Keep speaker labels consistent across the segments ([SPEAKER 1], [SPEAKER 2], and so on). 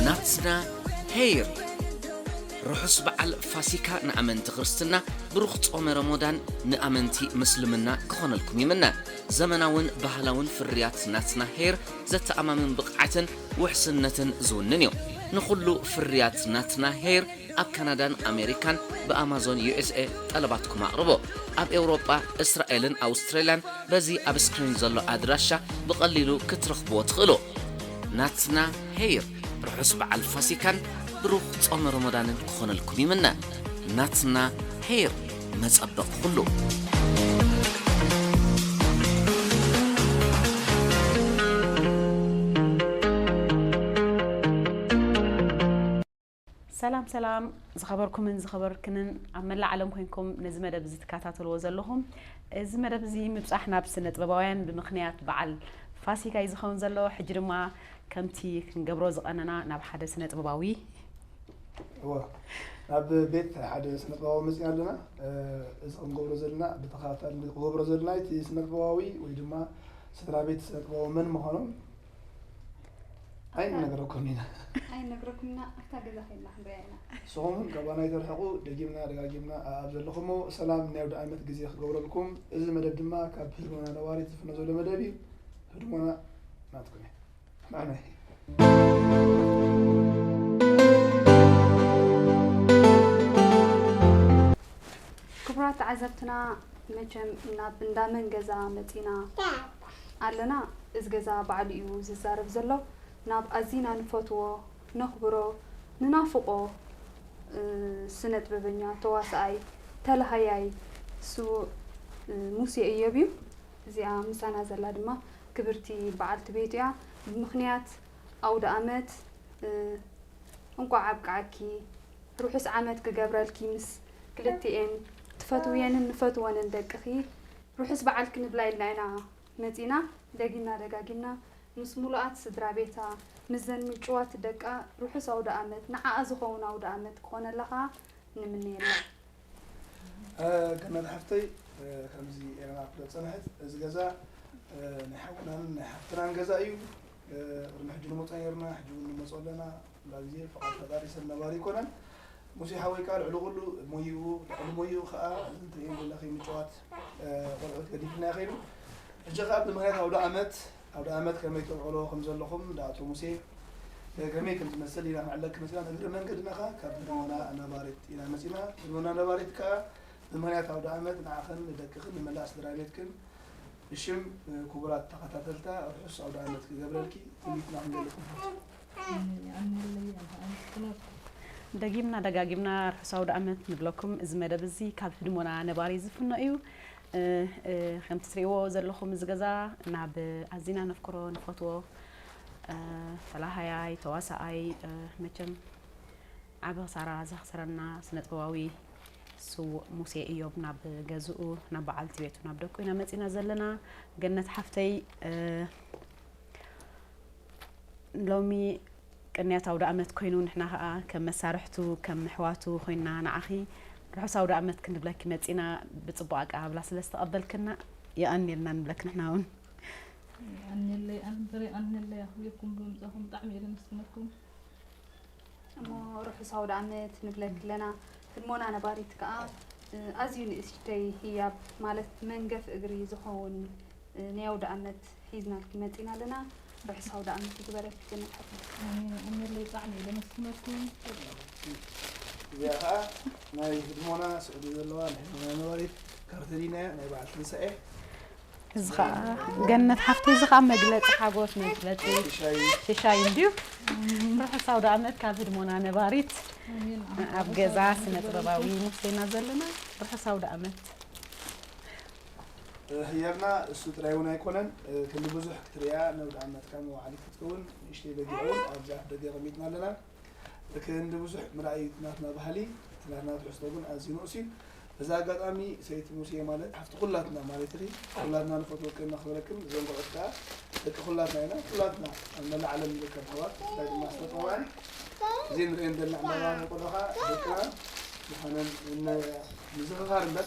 [SPEAKER 1] ናትና ሄይር ርሑስ በዓል ፋሲካ ንኣመንቲ ክርስትና ብሩኽ ጾመ ረሞዳን ንኣመንቲ ምስልምና ክኾነልኩም ይምነ ዘመናውን ባህላውን ፍርያት ናትና ሄይር ዘተኣማምን ብቕዓትን ውሕስነትን ዝውንን እዩ ንኹሉ ፍርያት ናትና ሄይር ኣብ ካናዳን ኣሜሪካን ብኣማዞን USA ጠለባትኩም ኣቕርቡ። ኣብ ኤውሮጳ፣ እስራኤልን ኣውስትራልያን በዚ ኣብ ስክሪን ዘሎ ኣድራሻ ብቐሊሉ ክትረኽብዎ ትኽእሉ። ናትና ሄይር ርሑስ በዓል ፋሲካን ብሩኽ ጾመ ሮሞዳንን ክኾነልኩም ይምነ። ናትና ሄይር መጸበቒ ኩሉ።
[SPEAKER 2] ሰላም ሰላም ዝኸበርኩምን ዝኸበርክንን ኣብ መላእ ዓለም ኮንኩም ነዚ መደብ እዚ ትከታተልዎ ዘለኹም እዚ መደብ እዚ ምብፃሕ ናብ ስነ ጥበባውያን ብምክንያት በዓል ፋሲካ እዩ ዝኸውን ዘሎ ሕጂ ድማ ከምቲ ክንገብሮ ዝቐነና ናብ ሓደ ስነ ጥበባዊ
[SPEAKER 3] ናብ ቤት ሓደ ስነ ጥበባዊ መፅኢ ኣለና እዚ ክንገብሮ ዘለና ብተኸታታሊ ክንገብሮ ዘለና እቲ ስነ ጥበባዊ ወይ ድማ ስድራ ቤት ስነ ጥበባዊ መን ምዃኖም ኣይንነግረኩም ኢና ኣይንነግረኩም ኢና
[SPEAKER 4] ኣብታ ገዛ ከይድና ክንሪኣ ኢና ንስኹም እውን ካባና
[SPEAKER 3] ይተርሕቑ ደጊምና ደጋጊምና ኣብ ዘለኹሞ ሰላም ናይ ወደ ዓመት ግዜ ክገብረልኩም እዚ መደብ ድማ ካብ ህድሞና ነዋሪት ዝፍነ ዘሎ መደብ እዩ ህድሞና ናትኩም እዩ ንሕና
[SPEAKER 4] ክቡራት ተዓዘብትና መቸም ናብ እንዳመን ገዛ መፂና ኣለና እዚ ገዛ ባዕሉ እዩ ዝዛረብ ዘሎ ናብ ኣዚና ንፈትዎ ነኽብሮ ንናፍቆ ስነጥበበኛ ተዋሳኣይ ተላሃያይ ስውእ ሙሴ እዮብ እዩ እዚኣ ምሳና ዘላ ድማ ክብርቲ ባዓልቲ ቤቱ እያ ብምኽንያት ኣውዳኣመት እንቋዕ ኣብቃዓኪ ርሑስ ዓመት ክገብረልኪ ምስ ክልቲኤን ትፈትውየንን ንፈትወንን ደቅኺ ርሑስ በዓል ክንብላ ኢልና ኢና መጺእና ደጊምና ደጋጊምና ምስ ሙሉኣት ስድራቤታ ምስዘን ምጭዋት ደቃ ርሑስ ኣውደኣመት ንዓኣ ዝኸውን ኣውደኣመት ክኾነላ ከኣ ንምነየላ። ገነት ሓፍተይ
[SPEAKER 3] ከምዚ ኤረና ትብሎ ዝጸንሐት እዚ ገዛ ናይ ሓውናን ናይ ሓፍትናን ገዛ እዩ ቅድሚ ሕጂ ንመጾ ኔርና ሕጂ ውን ንመጾ ኣለና። ኩላ ግዜ ፍቃድ ፈጣሪ ሰብ ነባሪ ኣይኮነን ሙሴ ሓወይ ከኣ ልዕሊ ኩሉ ሞይኡ ልዕሊ ሞይኡ ከኣ እዚ ትርእይዎ ዘለኺ ምጭዋት ቆልዑት ገዲፍልና ከይዱ ሕጂ ከኣ ብምክንያት ኣውደኣመት ኣውደኣመት ከመይ ተውዕሎ ከም ዘለኹም እንዳ ኣቶ ሙሴ ከመይ ከም ዝመስል ኢና ክንዕለኪ መጺና ንእግረ መንገድና ከኣ ካብ ህድሞና ነባሪት ኢና መጺና ህድሞና ነባሪት ከኣ ብምክንያት ኣውደኣመት ንዓኽን ንደቅኽን ንመላእ ስድራ ቤትክን ብሽም ክቡራት ተኸታተልታ ርሑስ ኣውደኣመት ክገብረልኪ ትምኒትና ክንገልጽ ንፈቱ
[SPEAKER 2] ደጊምና ደጋጊምና ርሑስ ኣውደኣመት ንብለኩም። እዚ መደብ እዚ ካብ ህድሞና ነባሪ ዝፍኖ እዩ። ከምቲ ትሪእዎ ዘለኹም እዚ ገዛ ናብ ኣዚና ነፍቅሮ ንፈትዎ ተላሃያይ ተዋሳኣይ መቸም ዓቢ ክሳራ ዘኽሰረና ስነጥበባዊ ስዉእ ሙሴ እዮብ ናብ ገዝኡ ናብ በዓልቲ ቤቱ ናብ ደቁ ኢና መፂና ዘለና ገነት ሓፍተይ ሎሚ ቅንያት ኣውደኣመት ኮይኑ ንሕና ከኣ ከም መሳርሕቱ ከም ኣሕዋቱ ኮይንና ንዓኺ ርሑስ ኣውደኣመት ክንብለኪ መጺና ብጽቡቕ ኣቀባብላ ስለ ዝተቐበልክና የቐንየልና ንብለኪ ንሕና እውን የቀንየለይ
[SPEAKER 5] ኣንበር የቀንየለይ ኣኽቢርኩም ብምምጻኹም ብጣዕሚ እየ ዘመስግነኩም
[SPEAKER 4] እሞ ርሑስ ኣውደ ዓመት ንብለኪ ኣለና ህድሞና ነባሪት ከዓ ኣዝዩ ንእሽተይ ህያብ ማለት መንገፍ እግሪ ዝኸውን ናይ ኣውደ ዓመት ሒዝናልኪ መጺና ኣለና ርሑስ ኣውዳኣመት ይግበረልኪ ጀነት ሓፍተይ። ኣሜን ኣሜለይ ብጣዕሚ
[SPEAKER 5] እየ ደመስግነኩም። እዚኣ
[SPEAKER 3] ከኣ ናይ ህድሞና ስዑዲ ዘለዋ ናይ ህድሞና ነባሪት ካርተሊና እያ ናይ በዓል ትንሳኤ እዚ
[SPEAKER 2] ከኣ ገነት ሓፍተይ እዚ ከኣ መግለፂ ሓጎስ መግለፂ ሽሻይ እንድዩ ርሑስ ኣውዳኣመት ካብ ህድሞና ነባሪት ኣብ ገዛ ስነ ጥበባዊ ሙሴና ዘለና ርሑስ ኣውዳኣመት
[SPEAKER 3] ህያብና እሱ ጥራይ እውን ኣይኮነን ክንዲ ብዙሕ ክትርእያ ነውድ ኣመትካ መዋዓሊት ክትከውን ንእሽተይ በጊዕ እውን ኣብዚ ኣፍ ደገ ኣቐሚጥና ኣለና ክንዲ ብዙሕ ምርኣይ እቲ ናትና ባህሊ እቲ ናትና ትሕዝቶ ግን ኣዝዩ ንኡስ እዩ በዚ ኣጋጣሚ ሰይቲ ሙሴ ማለት ሓፍቲ ኩላትና ማለት ኢኺ ኩላትና ንፈትወክን ነኽብረክን እዞም ቆልዑት ከዓ ደቂ ኩላትና ኢና ኩላትና ኣብ መላእ ዓለም ንርከብ ኣሕዋት ብፍላይ ድማ ዝተጠውዐን እዚ ንሪኦን ዘለና ዕምባባ ቆልዑ ከዓ ደቅና ምዃነን ምዝኽኻር እምበር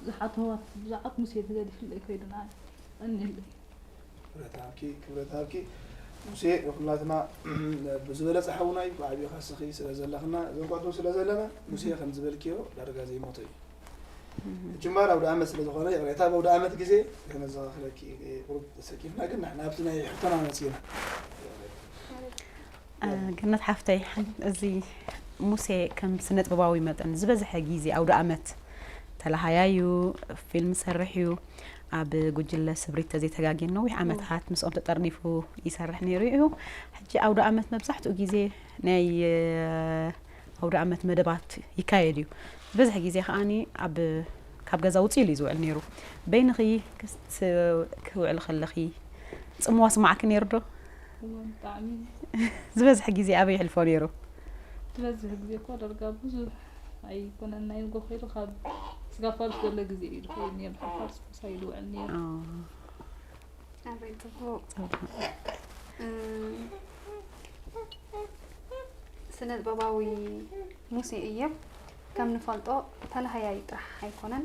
[SPEAKER 5] ብዙሓት ኣህዋት ብዛዕባ ሙሴ ተገዲፍለይ ኮይድና እኒኤለይ። ክብረት ሃብኪ ክብረት
[SPEAKER 3] ሃብኪ ሙሴ ንኩላትና ብዝበለፀ ሓውና እዩ ብዓብዩ ካስኺ ስለ ዘለኽና እዞም ኳቱ ስለ ዘለና ሙሴ ከም ዝበልክዮ ዳርጋ ዘይሞተ እዩ ጅማር ኣውደ ኣመት ስለ ዝኾነ ይቕሬታ በውደ ኣመት ግዜ ከነዘኻኽረኪ ቁሩብ ተሰኪፍና ግን ንሕና ኣብቲ ናይ ሕቶና መፂና
[SPEAKER 2] ገነት ሓፍተይ እዚ ሙሴ ከም ስነጥበባዊ መጠን ዝበዝሐ ግዜ ኣውደ ኣመት ተላሃያዩ ፊልም ሰርሕ እዩ ኣብ ጉጅለ ስብሪት ተዘይተጋጌን ነዊሕ ዓመታት ምስኦም ተጠርኒፉ ይሰርሕ ነይሩ እዩ ሕጂ ኣውደ ኣመት መብዛሕትኡ ግዜ ናይ ኣውደ ኣመት መደባት ይካየድ እዩ ዝበዝሐ ግዜ ከዓኒ ኣብ ካብ ገዛ ውፅኡ ኢሉ እዩ ዝውዕል ነይሩ በይንኺ ክውዕል ከለኺ ፅምዋ ስማዕኪ ነይሩ ዶ ዝበዝሐ ግዜ ኣበይ ይሕልፎ ነይሩ? ዝበዝሕ
[SPEAKER 5] ግዜ እኳ ዳርጋ ብዙሕ ኣይኮነን ናይ ንጎ ከይዱ ካብ ስጋ ፋርስ ዘሎ ግዜ እዩ ዝኸይድ ነይሩ ካብ ፋርስ ምሳይ እዩ ዝውዕል ነይሩ ኣበይ
[SPEAKER 4] ጽቡቅ ስነ ጥበባዊ ሙሴ እዮብ ከም ንፈልጦ ተላሃያይ ጥራሕ ኣይኮነን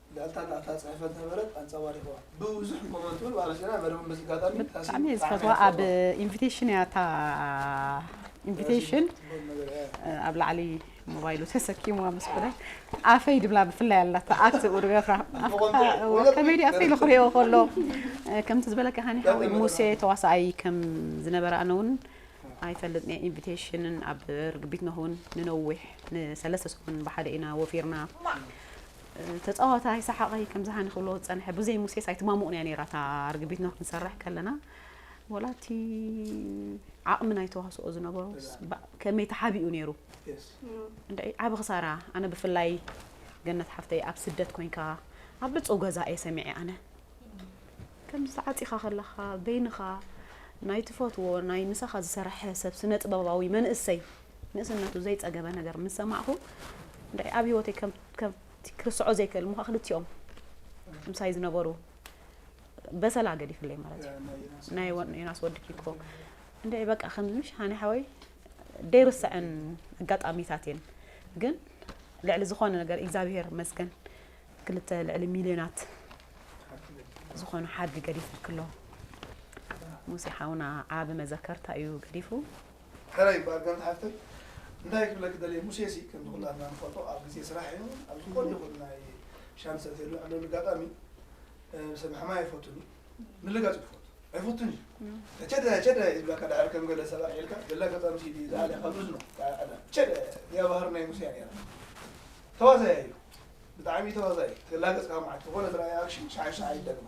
[SPEAKER 3] ጋልታት ኣብታ ጽሕፈት ዝነበረት ኣንጸባሪቕዋ። ብብዙሕ ንኮመንት ውን ባራኺና መደብን በዚ ኣጋጣሚ ታሲን
[SPEAKER 2] ብጣዕሚ ዝፈትዋ ኣብ ኢንቪቴሽን እያ እታ ኢንቪቴሽን ኣብ ላዕሊ ሞባይሉ ተሰኪምዋ ምስ ኮነ ኣፈይ ድብላ ብፍላይ ኣላታ ኣቲ ኡድበኻ ከመይ ዲ ኣፈይ ንክሪኦ ከሎ ከምቲ ዝበለካ ሃኒ ሓወይ ሙሴ ተዋሳኣይ ከም ዝነበረ ኣነ እውን ኣይፈልጥ ነ ኢንቪቴሽንን ኣብ ርግቢት ነኹን ንነዊሕ ንሰለስተ ሰሙን ብሓደ ኢና ወፊርና ተጻዋታይ ሰሓቐይ ከም ዝሃኒ ክብሎ ዝጸንሐ ብዘይ ሙሴስ ኣይትማሙቕን እያ ነይራ እታ ርግቢት ኖህ ክንሰርሕ ከለና ወላ እቲ ዓቕሚ ናይ ተዋስኦ ዝነበሮ ከመይ ተሓቢኡ ነይሩ ዓብ ክሳራ ኣነ ብፍላይ ገነት ሓፍተይ ኣብ ስደት ኮንካ ኣብ ብፁው ገዛ እየ ሰሚዐ ኣነ ከምዚ ተዓፂኻ ከለኻ በይንኻ ናይ ትፈትዎ ናይ ምሳኻ ዝሰረሐ ሰብ ስነ ጥበባዊ መንእሰይ ንእስነቱ ዘይፀገበ ነገር ምስ ሰማዕኹ ንዳይ ኣብ ሂወተይ ከም ከምቲ ክርስዖ ዘይክእል እሞ ክልቲኦም ምሳይ ዝነበሩ በሰላ ገዲፍለይ ማለት እዩ ናይ ዮናስ ወዲ ኪኮ እንደ በቃ ከምዚ ምሽ ሃኒ ሓወይ ደይርስዐን ኣጋጣሚታት እየን ግን ልዕሊ ዝኾነ ነገር እግዚኣብሄር መስገን ክልተ ልዕሊ ሚልዮናት ዝኾኑ ሓድጊ ገዲፉልክሎ ሙሴ ሓውና ዓቢ መዘከርታ እዩ ገዲፉ ሕራይ ይበሃል
[SPEAKER 3] ጋል ሓፍተይ እንታይ ክብለኪ ደልየ ሙሴ ሲ ከምቲ ኩላትና ንፈልጦ ኣብ ግዜ ስራሕ ይኩን ኣብ ዝኮነ ይኩን ናይ ሻም ዝሰትየሉ ዕለሉ ኣጋጣሚ ሰብ ምሕማይ ኣይፈቱን እዩ ምልጋጽ እዩ ዝፈቱ ኣይፈቱን እዩ ቸደ ቸደ ይብላካ ድሕር ከም ገለ ሰብ ኣልዒልካ ገለ ኣጋጣሚ ሲዲ እዩ ዝኣልያ ካብ እዝኑ ቸደ እዚኣ ባህሪ ናይ ሙሴ እያ ነይራ ተዋዛያ እዩ ብጣዕሚ ተዋዛይ ተላገጽካ መዓት ዝኮነ ዝረኣየ ኣክሽን ሸዓ ሸዓ ይደግማ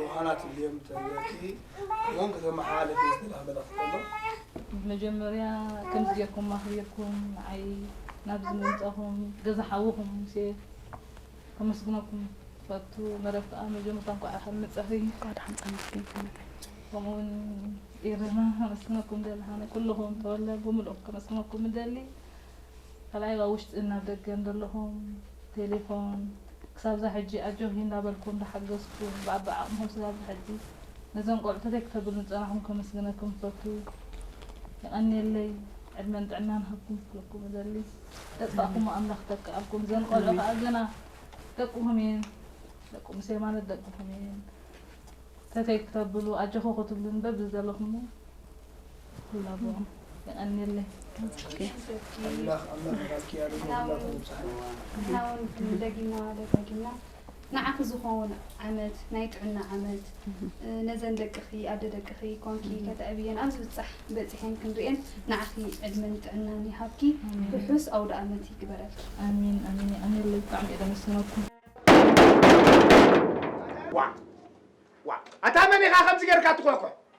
[SPEAKER 3] ዮሃና ትብልዮም ተብለኪ ከምኦም
[SPEAKER 5] ከተመሓላለፊ ዝደለኻ መልእኽቲ ኣሎ? መጀመርያ ከምዚ ጌርኩም ኣኽቢርኩም ንዓይ ናብዚ ምምጻእኹም ገዛ ሓውኹም ሙሴ ከመስግነኩም ይፈቱ። መረብ ከኣ መጀመርታ እንቋዕ ደሓን መጻኺ። እንቋዕ ደሓን ጸንሕኪ
[SPEAKER 2] ሰነተይ። ከምኡውን
[SPEAKER 5] ኤረና ከመስግነኩም እደሊ። ኣነ ኩሉኹም ተወለ ብምልኡ ከመስግነኩም እደሊ። ካልኣይ ኣብ ውሽጥን ኣብ ደገን ዘለኹም ቴሌፎን ክሳብዛ ሕጂ ኣጆኺ እንዳበልኩ እንዳሓገዝኩ ብኣቢ ዓቕምኹም ስጋብዚ ሕጂ ነዞም ቆልዑ ተዘይ ክተብሉኒ ዝጸናሕኩም ከመስግነኩም እፈቱ የቐንየለይ ዕድመን ጥዕናን ሃብኩም ክብለኩም እደሊ ዘጥፋእኩሞ ኣምላኽ ይተክኣልኩም እዘን ቆልዑ ከኣ ገና ደቅኹም እየን ደቂ ሙሴ ማለት ደቅኹም እየን ተተይ ክተብሉ ኣጆኹ ክትብሉኒ በብዘለኹሞ ንዓኺ
[SPEAKER 3] ዝኸውን
[SPEAKER 4] ዓመት ናይ ጥዕና ዓመት ነዘን ደቅኺ ኣደ ደቅኺ ኮንኪ ከተዕብየን ኣብ ዝብፃሕ በፂሐን ክንሪኤን ንዓኺ ዕድመን ጥዕናን ይሃብኪ ርሑስ ኣውደ ዓመት ይግበረልኪ ኣሚን ኣሚን
[SPEAKER 5] የቀንየለይ ብጣዕሚ እየ ደመስግነኩም ዋ ዋ
[SPEAKER 6] ኣታ መን ኢኻ ከምዚ ጌርካ ትኾሕኩሕ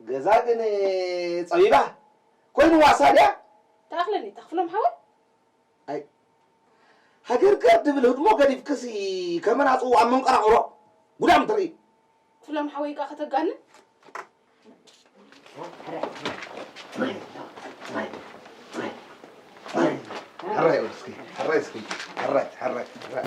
[SPEAKER 7] ገዛ ግን ጸቢባ ኮይንዋ እሳ ድያ። ተኣኽለኒ
[SPEAKER 8] ተኽፍሎም ሓወይ። ኣይ
[SPEAKER 7] ሃገርገር ድብል ህድሞ ገዲፍክሲ ከመን ኣጽውኡ ኣብ መንቀራቕሮ ጉዳም ትርኢ። ክፍሎም ሓወይ
[SPEAKER 8] እካ ከተጋንን።
[SPEAKER 7] ሕራይ ኦል እስኪ ሕራይ እስኪ ሕራይ ሕራይ ሕራይ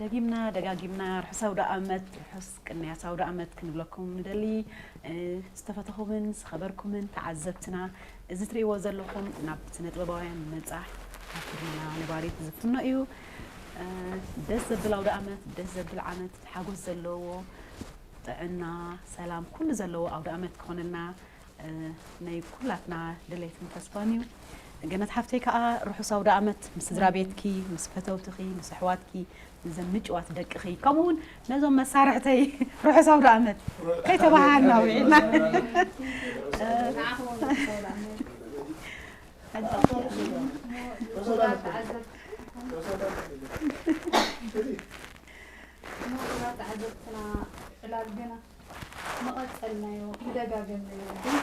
[SPEAKER 2] ደጊምና ደጋጊምና ርሑስ ኣውደኣመት ርሑስ ቅንያት ኣውደኣመት ክንብለኩም ንደሊ ዝተፈተኹምን ዝኸበርኩምን ተዓዘብትና እዚ ትርእይዎ ዘለኹም ናብ ስነጥበባውያን መጻ ኣክርና ነባሪት ዝፍኖ እዩ ደስ ዘብል ኣውደኣመት ደስ ዘብል ዓመት ሓጎስ ዘለዎ ጥዕና ሰላም ኩሉ ዘለዎ ኣውደኣመት ክኾነልና ናይ ኩላትና ድሌትን ተስፋን እዩ። ገነት ሓፍተይ ከዓ ርሑስ ኣውደኣመት ምስ ስድራ ቤትኪ ምስ ፈተውትኺ ምስ ኣሕዋትኪ እዘን ምጭዋት ደቅኺ ከምኡ እውን ነዞም መሳርሕተይ ርሑስ ኣውደኣመት ከይተባሃሃልና ውዒልና ተዓዘብትና
[SPEAKER 4] ዕላል ገና ምቐጸልናዮ ምደጋገምናዮ ግን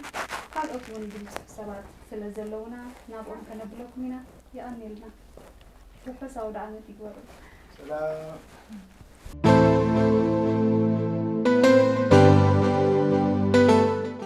[SPEAKER 4] ካልኦት ውን ብሉጻት ሰባት ስለ ዘለውና ናብኦም ከነብለኩም ኢና የቐንየልና ርሑስ
[SPEAKER 3] ኣውደኣመት
[SPEAKER 4] ይግበሩ። ሰላም።